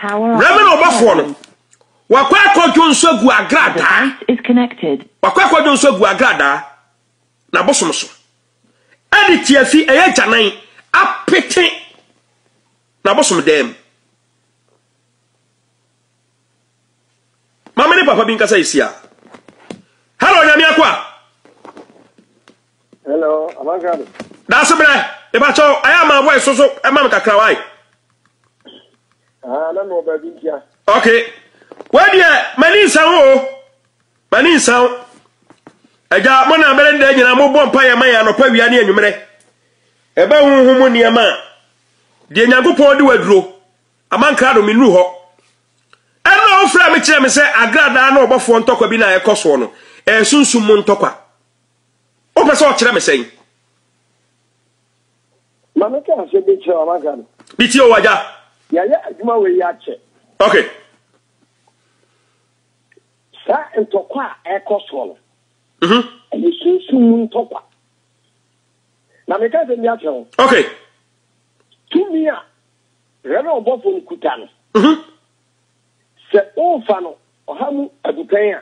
Rɛmɛ na ɔbɔfoɔ no wakɔ akɔdwo nso agu agradaa wakɔ akɔdwo nso agu agradaa na abosom so ɛde tiafi ɛyɛ gyanan apete na abosom dɛm maame ne papa bi nkasa esi a hello nyame akɔ a Hello, Abankado. Daase brɛ, ebakyɛ o, ayɛ ama voice so so ɛma mi kakra wa yi. Ah, na mi wɔ baabi ntia. Okay, wei deɛ mani nsan o, mani nsan. Ɛgya mo na abɛrɛ dɛ nyina mo bɔ mpa yɛ ma yɛ anɔpa wia ne enyimrɛ. Ɛbɛ huhu mu nneɛma a, deɛ Nyankopɔn de waduro, Amankrado mi nuru hɔ. Ɛna ɔfrɛ me kyerɛ me sɛ agradaa na ɔbɔfoɔ ntɔkwa bi na ɛkɔ soɔ no, ɛyɛ sunsum mu ntɔkwa. Wopɛ sɛ ɔkyerɛ me sɛn? Ma me ka asɛm bi kyerɛ ɔmaka no. Bi tie o agya. Yɛayɛ adwuma wei akyɛ. Ok. Saa ntɔkwa a ɛkɔ soɔ no. Mhm. Ɛyɛ sunsun mu ntɔkwa. Na meka asɛm bi akyerɛ wo. Ok. Tumi a Reverend ɔbɔfo no kuta no. Mhm. Sɛ wofa no ɔha mu adupɛn a.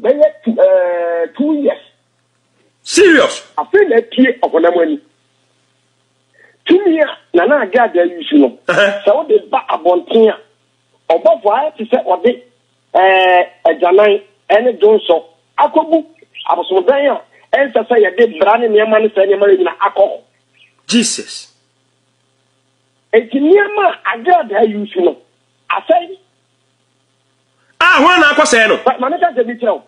bɛyɛ tu ɛɛ two years. Serious. Afei na apue ɔhonam ani. Tumi a Nana Ade Ade ayusu no, sɛ wode ba abɔnten a, ɔbɔfo ayɛ te sɛ ɔde ɛɛ agyanan ɛne dwonsɔ akɔgu abosomdan a ɛnsɛ sɛ yɛde bra ne nneɛma ne saa nneɛma no nyina akɔ hɔ. Jesus. Enti nneɛma a Ade Ade ayusu no, asɛe. A hwan na akɔsɛe no? Ma me ka sɛ bi kyerɛ wo.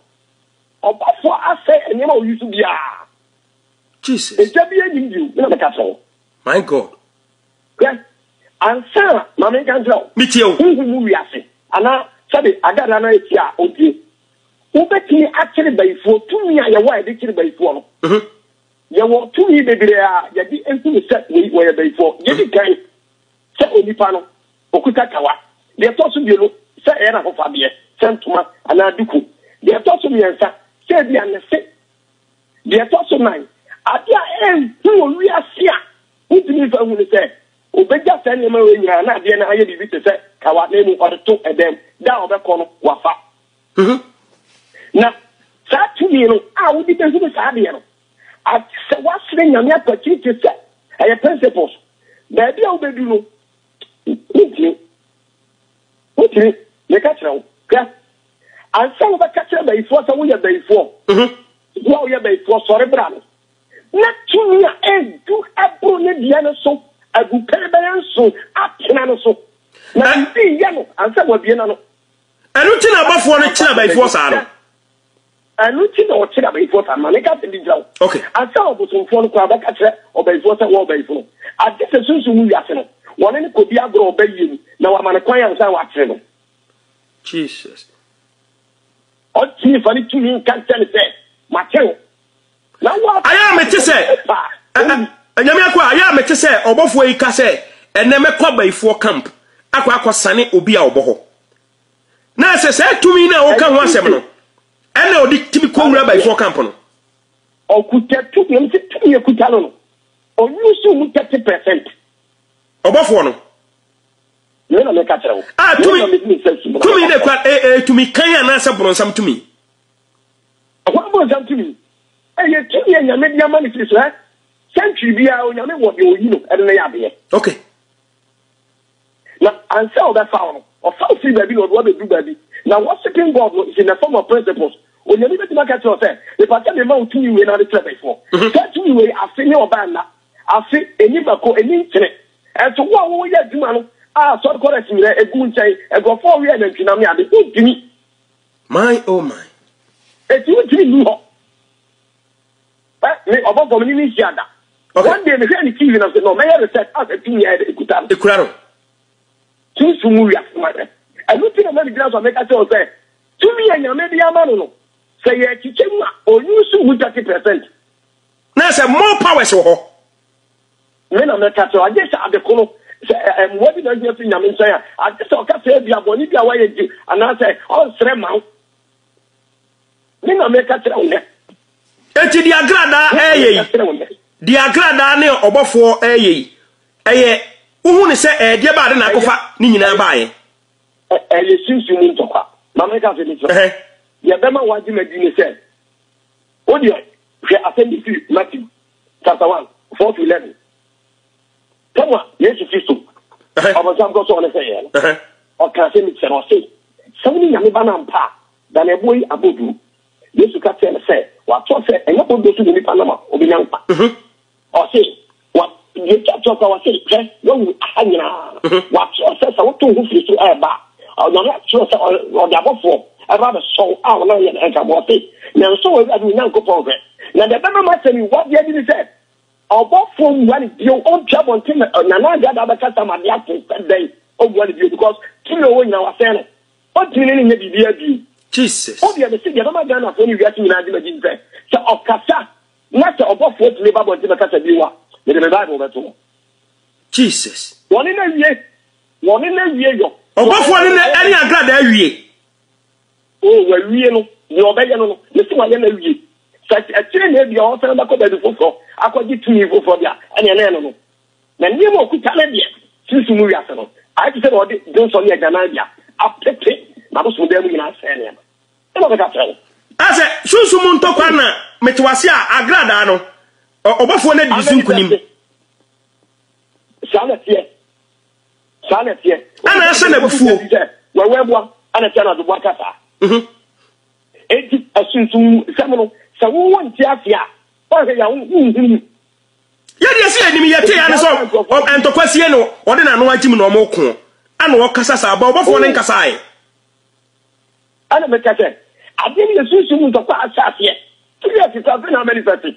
Ɔbɔfo asɛe nneɛma a oyi so biara. Jesus. Egya bi anim bio, me na meka kyerɛ wo. My God. Hwɛ, ansa na ma me nka nkyerɛ wo. Metie wo. Honhom mu wiase, anaa sɛbe Agadra no a etie a, ontie. Wobetumi akyere bayifoɔ, tumi a yɛwɔ a yɛde kyere bayifoɔ no. Yɛwɔ tumi bebree a yɛde hunu sɛ wei wɔyɛ bayifoɔ. Gye di kan. Sɛ onipa no, okuta kawa. Deɛ ɛtɔ so mmienu, sɛ ɛyɛ n'ahofadeɛ, sɛ ntoma anaa duku. Deɛ ɛtɔ so mmiɛnsa, sɛ ebia ne se. Deɛ ɛtɔ so nnan, adeɛ a ɛnhu wɔ wiase a wontumi mfa nhu ne sɛ, ɔbɛgya saa nneɛma wei nyinaa na adeɛ no ayɛ biribi te sɛ kawa na mmom ɔde to dan mu. Da a ɔbɛkɔ no, wafa. Na saa tumi no a wode bɛhunu saa adeɛ no, Ate sɛ woasrɛ Nyame akwati te sɛ ɛyɛ principles. Baabi a wobɛdu no, wontumi. Wontumi. Meka kyerɛ wo, hwɛ, ansa wobɛka kyerɛ bayifoɔ sɛ woyɛ bayifoɔ, wo a woyɛ bayifoɔ, sɔre bra no, na tumi a ɛdu ɛboro ne deɛ no so agu pere bɛyɛ nson atena no so, na biribi yɛ no ansa wabie n'ano. Ɛno nti na abɔfoɔ no kyerɛ bayifoɔ saa no. Ɛno nti na ɔkyere abayifoɔ saa, ma ne nka asɛm bi nkyerɛ wo, ansa ɔbosomfoɔ no koraa bɛka kyerɛ ɔbayifoɔ sɛ, Wo ɔbayifo no, agye sɛ sunsum mu wiase no, wɔne no kɔdi agorɔ ɔbayie mu, na wama no kwan ansa wɔakyere no. Jesus. Ɔtumi fa ne tumi nka nkyerɛ no sɛ, Makyere wo. Na wo a. Ayɛ a mete sɛ. Anyame akɔ a, ayɛ a mete sɛ ɔbɔfoɔ yi ka sɛ, ɛnɛ mɛkɔ abayifoɔ camp akɔ akɔsane obi a ɔbɔ hɔ. Na ɛsɛ saa tumi no a woka ho asɛm no ɛna ɔde tumi kɔwura abayifoɔ kampo no. Ɔkuta tumi, ɛm sɛ tumi ɛkuta no no, ɔyusu mu 30 percent. Ɔbɔfoɔ no. Yei na meka kyerɛ wo. A tumi, tumi na ɛkura, e, e, tumi kan anaasɛ borɔnsam tumi? Ɛhɔ no borɔnsam tumi. Ɛyɛ tumi a nyame de ama no firi so, ɛ? Sɛntwi biara onyame wɔ deɛ ɔyi no, ɛde no yɛ adeɛ. Okay. Na ansa a ɔbɛfa wo no, ɔfa wo firi baabi na ɔde wo abɛduru baabi. Na worshipping God no is in the form of principles. Onyame bɛtumi aka kyerɛ wo sɛ, Mepa sɛ mema wo tumi wei na wode kyerɛ bɛfoɔ. Saa tumi wei, afe ne ɔbaa nna, afe, ɛnni mako, ɛnni nkyene. Ɛnso wo a wo yɛ adwuma no, a sɔre kɔ rest nyinaa, ɛgu wo nkyɛn, nkurɔfoɔ ɔwe anantwinam ne ade, wontumi. My oh my. Enti wontumi nni hɔ. Me ọbọ bọ me ne no nhyia da. One day mehwɛ ne TV na sɛ na ɔmɛyɛ research a sɛ tumi yɛ ekuta no. Ekura no. Sunsun mu wiase ma dɛ. Ɛno ti na ma megyina so a meka kyerɛ wo sɛ tumi a Nyame de ama no no sɛ yɛkyekyɛ mu a ɔuse mu thirty percent. Na sɛ more powers wɔ hɔ. Me na mɛka kyerɛ wo agye sɛ ade ko no sɛ mmoa bi na ohia firi Nyame nkyɛn a agye sɛ ɔka sɛ ebia bɔne bi a woayɛ nti anaasɛ ɔnsrɛ ma wo. Me na meka kyerɛ wo nnɛ. Enti deɛ agradaa ɛyɛ yi, deɛ agradaa ne ɔbɔfoɔ ɛyɛ yi, ɛyɛ wohu ne sɛ ɛyɛ deɛ baade na akɔfa ne nyinaa baayɛ. Ɛyɛ sunsun mu ntɔkwa. Maame nka sɛ ne kyerɛ. Deɛ bɛma wagye ma di ne sɛ, wo deɛ hwɛ asɛm bi firi Matthew chapter one four to eleven. sɛnea yesu kristo ɔbɔnsam kɔ sɔɔ ne sɛ yɛ no ɔka sɛ mekyerɛ no ɔse sɛ wone nyame ba no ampa a da na ɛboɔ yi abɔduru yesu ka kyerɛ no sɛ wɔatoɔ sɛ ɛnyɛ bɔduro so na nipa nam a obɛnya nkwa ɔse yɛtwa kyerɛ kwa wɔse hwɛ wawu aha nyinaa wɔatoɔ sɛ sɛ woto ho firi so ɛɛba a onyame akyerɛ sɛ ɔde abɔfoɔ ɛba bɛsɔw a wɔn ayɛ no ɛnka bɔ ɔse nanso wɔawurade onyankopɔn hwɛ na deɛ ɛbɛma ma asɛm yi wadeɛ bi ne sɛ Ɔbɔfoɔ mmua no bio, ɔntu abɔnten ma Nana Addo Addo abɛkasa ma adeɛ ato sɛ dɛn ɔmmua no bio because tumi a ɔwɔ nyinaa wasɛe no, ɔntumi ne no nyɛ biribiara bio. Jesus. Wodeɛ mese deɛ ɛbɛma Ghanafoɔ ne wiase nyinaa agye m'adi ne sɛ, sɛ ɔkasa na sɛ ɔbɔfoɔ tumi ba abɔnten bɛkasa bio a, mede me Bible bɛto hɔ. Jesus. Wɔne no awie, wɔne no awie yɔ. Ɔbɔfoɔ ne no ɛne agradaa awie. O, wawie no, deɛ ɔbɛyɛ no no, me se wayɛ no awie. Sɛ akyire na ebia ɔresan bɛkɔ baabi foforɔ akɔgye tumi foforɔ deɛ a, ɛnneɛ na ɛno no. Na nneɛma a ɔkuta no deɛ, sunsum mu wiase no, ayɛ te sɛ deɛ ɔde dwonsɔ ne agyanan deɛ apete n'abosomdan mu nyinaa sɛe nneɛma. Ɛna ɔbɛka akyerɛ wo. Sɛ, Sunsum mu ntɔkwa na mete wo ase a, agradaa no, ɔbɔfoɔ no adi ne so nkonim. Saa na ɛteɛ. Saa na ɛteɛ. Ɛna ɛhyɛ n'abufuo. Wɛwɛ boa ɛna ɛteɛ na ɔde boa ka saa. Mhm. Eti ɛsunsun sɛm no sɛ wo wo nti ase a ɔhwɛ yɛ wo wo nhunu. Yɛ deɛ si anim yɛ te ya ne sɛ ntɔkwa sie no ɔde n'ano agyim na ɔmo ko ɛna ɔkasa saa ba ɔbɔfoɔ ne nkasa ayɛ. Ɛna mɛka sɛ adeɛ no yɛ sunsun ntɔkwa ahyɛ aseɛ. Tiri ɛte sɛ afei na manifɛte.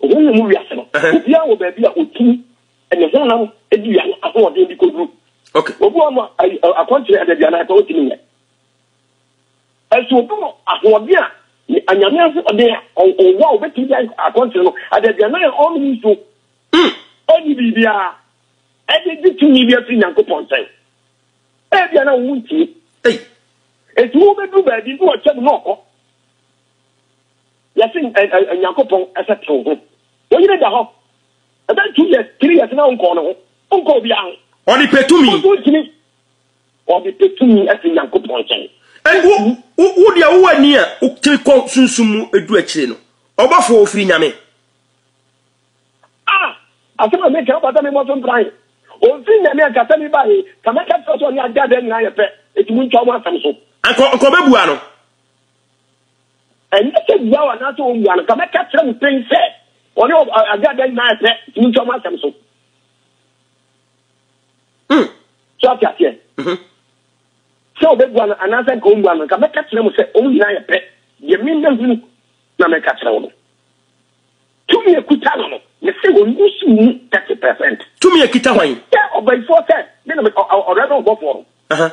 Honhom mu wiase no, obiara wɔ baabi a otumi ne honam dua no ahoɔden de koduru. Obi wɔ hɔ a akwankyerɛ adaduanan pɛ otumi nyɛ. Ɛso obi wɔ ahoɔden a anyame ahoɔden a ɔwɔ a obetumi de ayɛ akwankyerɛ no adaduanan a ɔnom nsuo. Ɔnni biribiara ɛde gye tumi bi afiri Nyankopɔn nkyɛn. Ebia na wo ntie. Eti wobɛduru baabi na ɔkyɛ mu na ɔkɔ. Yɛse ɛ-ɛ-ɛ Nyankopɔn sɛ twe wo ho. Wo yere da hɔ ɛbɛyɛ two years, three years na wonkɔɔ ne ho, wonkɔɔ obiara ho. Ɔde pɛ tumi. Wo nso wontumi. Ɔde pɛ tumi fi Nyankopɔn nkyɛn. Ɛnde wo, wo, wo deɛ wowɔ ani a wotiri kɔ sunsum mu du akyire no, ɔbɔfoɔ ɔfiri Nyame. Ah! Asɛm a meka ɔbata me mmɔ so mpran. Ɔmfiri Nyame a nka sɛ me ba he, nka mɛka kyerɛ sɛ ɔne Agya Dɛɛ nyinaa yɛ pɛ, enti montwa wɔn asɛm so. Anka, anka ɔbɛbua no. Ɛnyɛ sɛ bua o anaasɛ ommua no, ka mɛka kyerɛ mo pɛn sɛ ɔne ɔ- ɔ- agya dɛn nyinaa yɛ pɛ, tumi ntwa mo asɛm so. Mm. So ate aseɛ? Mhm. Sɛ ɔbɛbua no anaasɛ nka ommua no, nka mɛka kyerɛ mo sɛ wɔn nyinaa yɛ pɛ. Deɛ me mahunu na meka kyerɛ wo no. Tumi a ɛkuta no no, mese ɔnni so mu 30 percent. Tumi a ɛkita hwan? Sɛ ɔbayifoɔ sɛ, me na me- ɔ- ɔ- ɔrɛverɛn ɔbɔfoɔ no. Aha.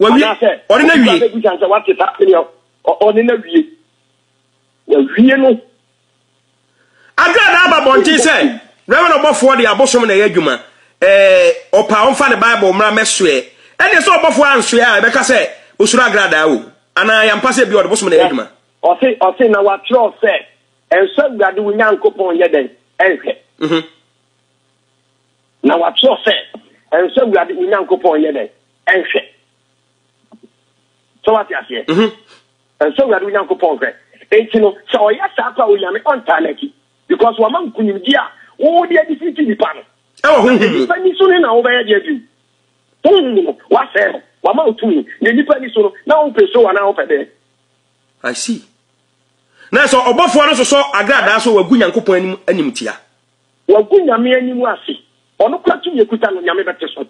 Wawie. Anaasɛ Ɔne na wie. Ɔne na sɛ wate saa sɛdeɛ ɔne na wie. Wawie no. Adra na aba bɔnten sɛ Reverend ɔbɔfoɔ de abosom na ɛyɛ adwuma. Ɛɛ ɔpa ɔmfa ne Bible mmra mɛsoɛ. Ɛne sɛ ɔbɔfoɔ ansoɛ a ɛbɛka sɛ osuro agradaa o. Anaa yɛ ampa sɛ bi ɔde bosom na ɛyɛ adwuma. Ɔse ɔse na wakyerɛw sɛ ɛnsɔ Awurade wo Nyankopɔn nyɛ dɛn ɛnhwɛ. Mm-hmm. Na wɔatwerɛ sɛ, Ɛnsɛ sɛ Awurade wo Nyankopɔn yɛ dɛn? Ɛnhwɛ. Sɛ wate aseɛ? Mhm. Ɛnsɛ sɛ Awurade wo Nyankopɔn hwɛ. Enti no, sɛ ɔyɛ saa kɔ a, Onyame ɔntaa n'akyi. Because wama nkonimdie a wo de adifiriti nnipa no. Ɛwɔ honhom mu. Na nnipa ani so no na wobɛyɛ deɛ bio? Honhom mu no, woasɛe no. Wama wo tumi. Na nnipa ani so no, na wompɛ show anaa wopɛ dɛn? I see. Na sɛ ɔbɔfoɔ no sosɔ agradaa so a, wagu Nyankopɔn anim animtia. Wagu Nyame anim ase. Ɔno koraa tumi a ɛkuta no Nyame bɛte so.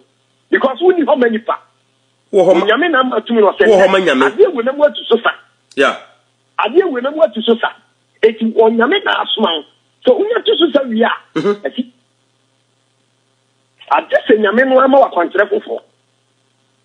Because wonni hɔ ma nipa. Onyame na ama tumi no. Ɔsɛ nnɛ adeɛ wei na mu atu so sa. Adeɛ wei na mu atu so sa. Eti Onyame na asoma wo. Sɛ wonya tu so sa wie a, asi. Agye sɛ Nyame no ara ma wo akwankyerɛ foforɔ.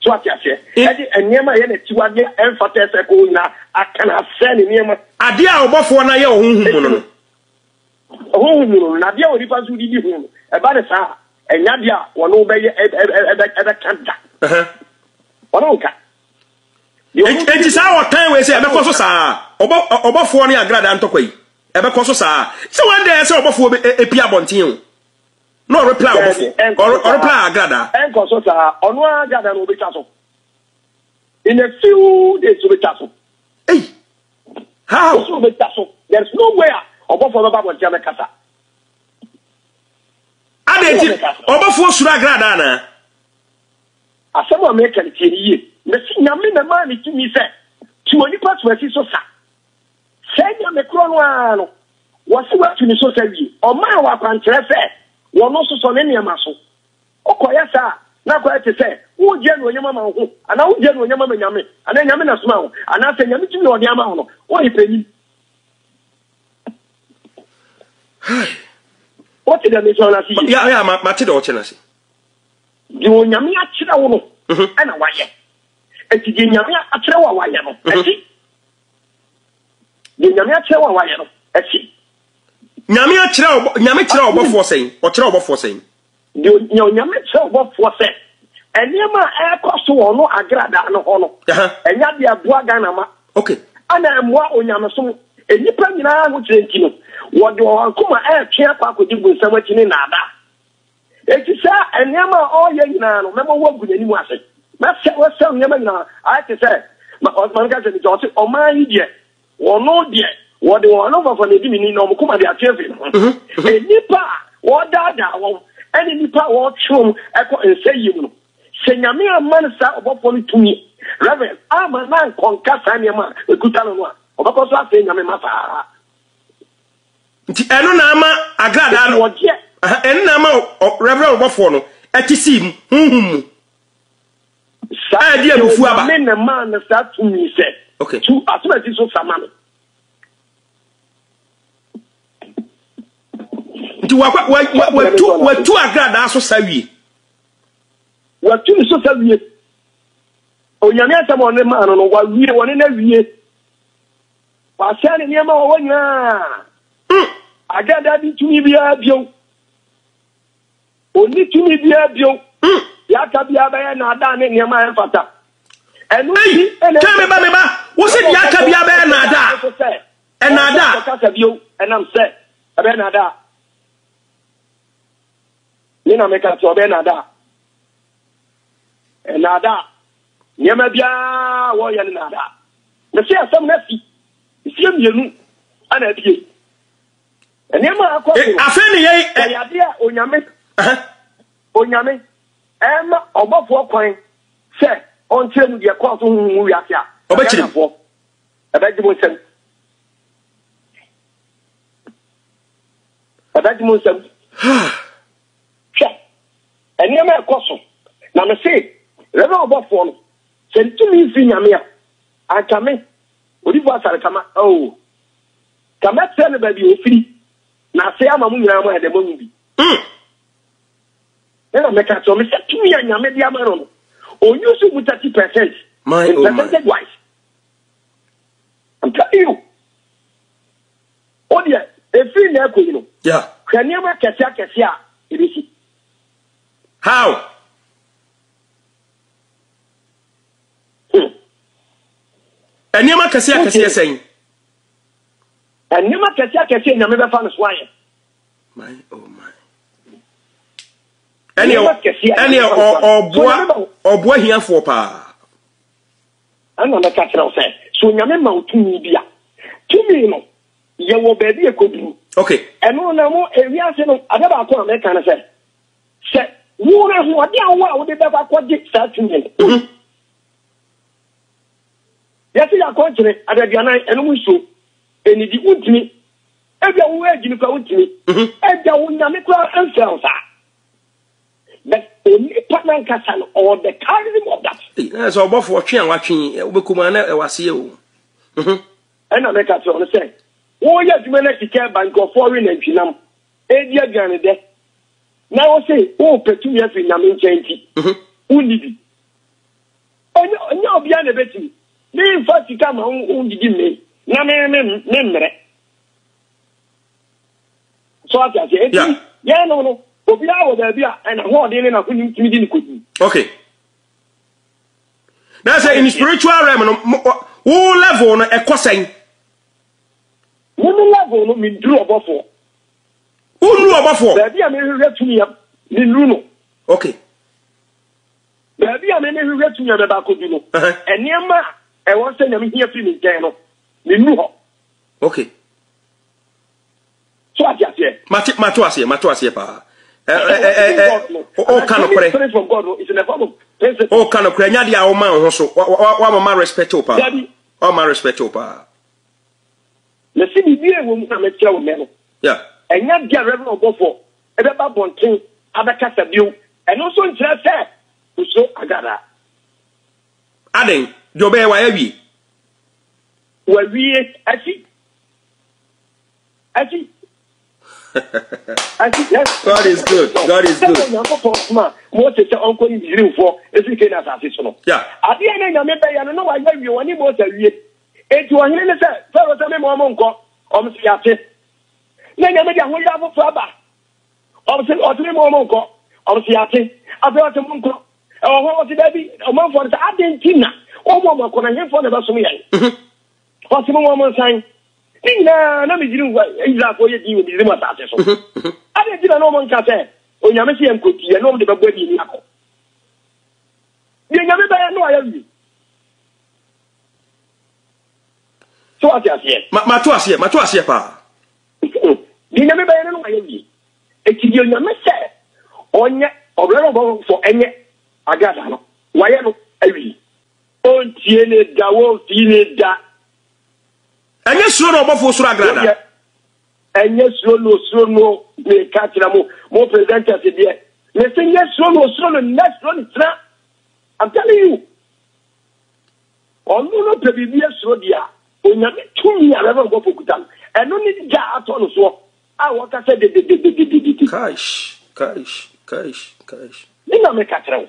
So wate aseɛ? Ɛde nneɛma a ɛyɛ n'akyiwadeɛ a ɛmfata ɛsɛ kɔɔ nyinaa aka no asɛe ne nneɛma. Adeɛ a ɔbɔfoɔ no ayɛ wɔ honhom mu no no. Honhom mu no no, na adeɛ a onipa nso de di ho no, ɛba no saa a, ɛnyɛ adeɛ a wɔne wo bɛyɛ ɛbɛka da. Wɔne wo nka. Enti saa ɔtan wei sɛ ɛbɛkɔ so saa ɔbɔfoɔ ne agradaa ntɔkwa yi ɛbɛkɔ so saa sɛ wɔn dɛ sɛ ɔbɔfoɔ bɛ epi abɔnten o. na ɔrepla ɔbɔfo ɔrepla agrada. ɛnkɔ so saa ɔno ara agrada no obetwa so in a few days obetwa so. Hey, how? Osu obetwa so there is no way a ɔbɔfo bɛba abɔnten abɛkasa. Adé ti ɔbɔfo osuru agrada na. Asɛm a mɛka no tie no yie. Mesi nyame na maa ne tumi sɛ tu onipa tuasi so sa. Sɛɛ Nyame korɔ no ara no, wɔse watu ne so sa wie, ɔmaa wɔ akwankyerɛ sɛ wɔno sosɔ ne nneɛma so. Wokɔyɛ saa a, na akɔyɛ te sɛ woregye anuonyam ama wo ho, anaa wogye anuonyam ama Nyame, anaa Nyame na somaa wo, anaa sɛ Nyame tumi a ɔde ama wo no, woyɛ panin. Hai! Wote deɛ mekyerɛ no ase yie? Ya, ya, ma, mate deɛ ɔkyerɛ no ase. Deɛ Onyame akyerɛ wo no, mhm. ɛna wayɛ. Enti deɛ Nyame akyerɛ wo a wayɛ no, mhm. ɛte. Deɛ Nyame akyerɛ wo a wayɛ no, ɛsi. Nyame akyerɛ ɔbɔ Nyame kyerɛ ɔbɔfoɔ sɛn? Ɔkyerɛ ɔbɔfoɔ sɛn? Deɛ Nyame kyerɛ ɔbɔfoɔ sɛ nneɛma a ɛrekɔ so wɔ ɔno agradaa no hɔ no, ɛnyɛ adeɛ ɛboa Ghana ma. Okay. Ɛna ɛmmoa onyamesom. Nnipa nyinaa ahokyerɛ nti no, wɔde wɔn akoma ɛretwe akɔ akɔdi bonsam akyi ne nnaadaa. Enti saa nneɛma a ɔreyɛ nyinaa no, mɛma woagu n'anim ase. Mɛsɛe wo asau nneɛma nyinaa. Ayɛ te sɛ, ma, ɔ, ma menka sɛ bi, sɛ ɔse, Ɔman yi deɛ, wɔno deɛ, wɔde wɔn anofafa na edi me ni, na wɔn koma de ate afiri me ho. Nnipa a wɔredaadaa wɔn, ɛne nnipa a wɔretwe wɔn kɔ nsɛeɛ mu no, sɛ Nyame amma no saa ɔbɔfoɔ no tumi, Rev. Amma no ankɔnka saa nneɛma a ɛkuta no no a, ɔbɛkɔ so asɛe Nyame mma saa ara. nti ɛno na ama agradaa no ɛno na ama rɛbrɛ ɔbɔfoɔ no ɛte sii mu honhom mu a ɛde abufu aba me na maa no saa tumi sɛ tu asomasi so sama no nti watu agradaa so sa wie watu ne so sa wie onyame asɛm ɔne maa no no wawie wɔne no awie Wasɛe ne nneɛma a ɔwɔ nyinaa. Hmm. Agada di tumi biara bio. Onni tumi biara bio. Hmm. Deɛ aka biara bɛyɛ nnaadaa ne nneɛma a ɛmfata. Ɛno nti ɛna ɛsɛ meba meba wo sɛ deɛ aka biara bɛyɛ nnaadaa. Ɛnnaadaa. Ɛsɛ kasa bio ɛnam sɛ ɛbɛyɛ nnaadaa. Me na meka sɛ ɔbɛyɛ nnaadaa. Ɛnnaadaa. Nneɛma biara a wɔyɛ no nnaadaa. Mese asɛm no asi. Mfeɛ mmienu ana abie. Nneɛma a akɔ so no, wɔyɛ adeɛ a Onyame, Onyame, ɛma ɔbɔfoɔ kwan sɛ ɔnkyerɛ mu deɛ ɛkɔɔ so honhom mu wiase a, Ghanafoɔ, ɛbɛgye mo nsam. Ɛbɛgye mo nsam. Hwɛ. Nneɛma a ɛkɔ so. Na mese, Rev. Ɔbɔfoɔ no, sɛ ntumi mfiri Nyame a, anka me, Odifoɔ Asare-Tama, oo, ka mɛkyerɛ no baabi a ɛfiri, na asɛe ama mo nyinaa moayɛ dɛ moahu bi. Mm. Ɛna mɛka akyerɛ me sɛ tumi a Nyame de ama no no, ɔnyusu mu 30 percent, my, in oh percentage my. wise. I'm telling you. O deɛ, ɛfiri na ɛkɔ yi no, hwɛ nneɛma akɛse akɛse a ɛbɛsi. How? Nneɛma kɛse akɛseɛ sɛn? Nneɛma kɛse akɛseɛ nyame bɛfa no so ayɛ. My oh my. Ɛneɛ ɛneɛ ɔboa ɔboa hiafoɔ paa. Ɛna mɛka kyerɛ wo sɛ so nyame ma wo tumi bi a tumi no yɛwɔ baabi a ɛkɔduru. Okay. Ɛno na mo ewiase no ade baako a mɛka no sɛ sɛ wɔn ahoɔden a wɔn a wɔde bɛkɔ akɔgye saa tumi no. Mhm. Yɛsi yɛ akɔnkyere adaduanan ɛnum nsuo ɛnidi wuntumi ebi a wɔn adi no kora wuntumi mhm. ɛda wɔn nyame kora ɛnfɛ wɔn saa. But onipa nankasa no ɔwɔ the carrying of that. Ɛna sɛ ɔbɔfo ɔtwe a watwe wobɛkɔ mu a na ɛwɔ aseɛ o. Mhm. Ɛnna meka kyerɛɛ wɔn sɛ, Wɔreyɛ adwuma na sika reba, nkurɔfoɔ we nantwinam, redi aduanedɛ, na wose worepɛ tumi afiri Nyame nkyɛn nti, wonni bi. Ɛnyɛ ɛnyɛ obiara na ɛbɛtumi. Meremfa sika ma wo wodidi mmee, na me me memmrɛ. So ate aseɛ? Enti, yɛn no no, obiara wɔ baabi a ɛna hoɔden ne n'ahonim tumi de no kɔdi. Okay. na sɛ in spiritual realm no wo level no ɛkɔ sɛn me ne level no menduru ɔbɔfoɔ wonuru ɔbɔfoɔ baabi a mehwehwɛ tumi a menuru no okay baabi a mene hwehwɛ tumi a mɛba akɔdu no nneɛma a ɛwɔ sɛ nyame hia firi me nkyɛn no menuru hɔ okay so ate aseɛ. mate mate aseɛ mate aseɛ paa. ɔka nokorɛ ɔka nokorɛ nya deɛ a woma wo ho so wamama respect wo paa wama respect wo paa. mesi biribi a ɛwɔ mu na mekyerɛ wo nnɛ no ɛnya deɛ reverend ɔbɔfoɔ ɛbɛba bɔnten abɛkasa bio ɛno nso nkyerɛ sɛ osuro agada. aden deɛ ɔbɛyɛ wayɛ wie. wawie asi ɛti ɛti yes God is good God is good ɛna nyame pɔ kuma Mose sɛ ɔnkɔ yi Misraim fɔ efiri kɛ na asase so no adeɛ ne nyame bɛ yɛ no na wayɛ wie wɔne Mose awie eti ɔhene ne sɛ fɛrɛ sɛ mɛmɛ ɔmo nkɔ ɔmo sɛ yate na nyame de ahoyɛ afoforo aba ɔmo sɛ ɔte mɛmɛ ɔmo nkɔ ɔmo sɛ yate afei ɔte mo nkɔ ɛwɔ hɔ ɔte dɛbi ɔmanfoɔ no sɛ adeɛ nti na ɔmo ɔmo akɔ na hefoɔ na ɛbɛsom yɛn Ɔse mo wɔn nsan. Ne nyinaa na Misri nfa Israelfoɔ yɛ din wɔ Misri mu asase so. Adɛn nti na na wɔn nka sɛ Onyame se yɛn kɔ nti yɛne wɔn de bɛbɔ aniani akɔ? Deɛ Nyame bɛyɛ no ayɛ wie. So wate aseɛ? Ma ma to aseɛ ma to aseɛ paa. Deɛ Nyame bɛyɛ no no ayɛ wie. Eti deɛ Onyame sɛ ɔnyɛ ɔbrɛ no ɔbɔfo ɛnyɛ agradaa no wayɛ no awie. Wontie ne da, womfii ne da. Ɛnyɛ suro na ɔbɔfo osuro agrada. Ɛnyɛ suro na osuro no meka kyerɛ mo mo presenters deɛ mese nyɛ suro na osuro no nyɛ suro ne tena I'm telling you ɔno no pɛ biribi asuro deɛ a onyame tumi a rɛbɛ ɔbɔfo kuta no ɛno ne gya atɔ no soɔ a wɔka sɛ dedededededede kaish kaish kaish kaish ne na meka kyerɛ wo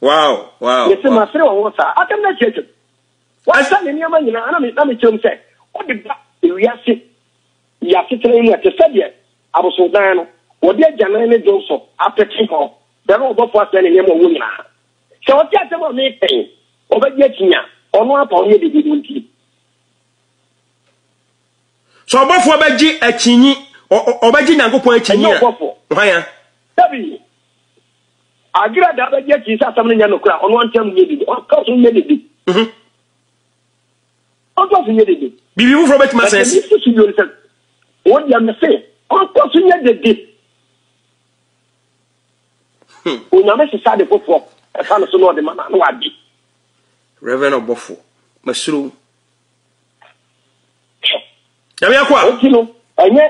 Wow, wow, Mese, wow. Masere wo ho saa? Asɛm no atwatwam. Wasa ne nneɛma nyinaa, na me, na mekyerɛ mu sɛ, wode ba ewiase yi asetena yi mu a, te sɛ deɛ abosondan no, wɔde agyanan ne dwonsɔ apete hɔ, brɛ no ɔbɔfoɔ asɛe ne nneɛma a ɔwɔ nyinaa. Sɛ ɔte asɛm a mereka yi, ɔbɛgye akyinnye a, ɔno ara pa ɔnyɛ biribi no nti. Sɛ ɔbɔfoɔ bɛgye akyinnye, ɔ- ɔ- ɔbɛgye Nyankopɔn akyinnye Ɛnyɛ a, ɔbɔfoɔ. hwan a? Dabi. Agera daa bɛgye akyi sɛ asɛm no nyɛ nokorɛ a, ɔno antam nyɛ dede. Ɔntɔ so nyɛ dede. Mhm. Ɔntɔ so nyɛ dede. Biribi foforɔ bɛtumi asɛe si. Ɛtumi si bio no sɛ, wɔn deɛ me se, ɔntɔ so nyɛ dede. Hmm. Onyame sesa de foforɔ ɛfa no so na ɔde ma na wadi. Reverend Ɔbɔfo, masuro. Nyame akoa. Enti no, ɛnyɛ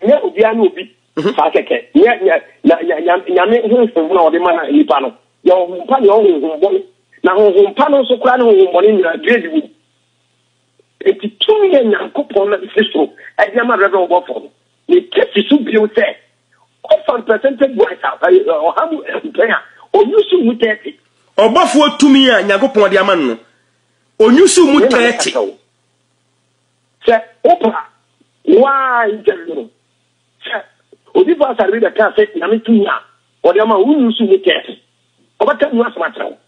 nyɛ obiara ne obi mhm. saa kɛkɛ. Nyɛ nyɛ na nyɛ nyame honhom na ɔde ma na nipa no. Yɛ honhom pa ne honhom bɔne. Na honhom pa no nso koraa ne honhom bɔne nyinaa grade wɔ mu. Enti tumi yɛ Nyankopɔn na ɛfiri soro ɛde ama rɛbrɛ ɔbɔfoɔ no. Ne kɛsi so bio sɛ ɔfa percentage wise a ɔha mu mpɛn a ɔnyusu mu tɛɛte. Ɔbɔfoɔ tumi a Nyankopɔn de ama no onyusu mu tɛɛte. Sɛ wopa a, wo ara interview no. Sɛ obi fa asare bi bɛka sɛ Nyame tumi a ɔde ama wo nnu so mu kɛse, ɔbɛka mu asɛm akyerɛ wo.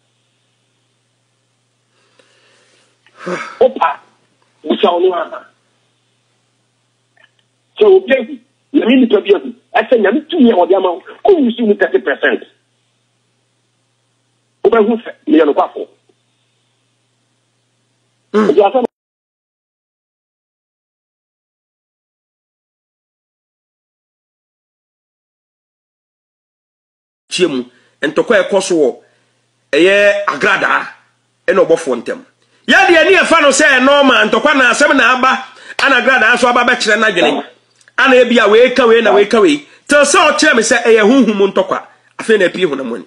Wopa a, bisa wo no ara sɛ obi ahu, Nyame nnipa bi ahu, ɛsɛ Nyame tumi a ɔde ama wo, ɔnnu so mu kɛse percent. Wobɛhu sɛ meyɛ nokwafo. Mm. tie mu ntɔkwa ɛkɔ so wɔ ɛyɛ agradaa ɛna ɔbɔfoɔ ntɛm yɛdeɛ ne ɛfa no sɛ nɔɔma ntɔkwa na asɛm na aba ana agradaa so aba bɛkyerɛ no adwene ana ebi a wei ka wei na wei ka wei tɛ sɛ ɔkyerɛ me sɛ ɛyɛ honhom ntɔkwa afei na apue honam ani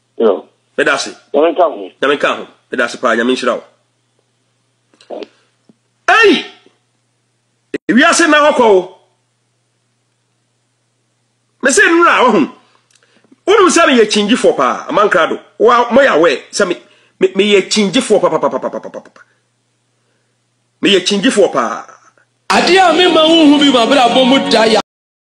Yo. Meda ase. Nyame nka ho. Nyame nka ho. Meda ase paa Nyame nhyira wo. Ei! Wiase na hɔ kɔ wo. Me se nura wahu. Wonu sɛ me yɛ kyingyifo paa amankra do. Wa mo ya wɛ sɛ me me me yɛ kyingyifo paa paa paa paa paa. Me yɛ kyingyifo paa. Adeɛ a mema wonhu bi m'abrabɔ mu da yɛ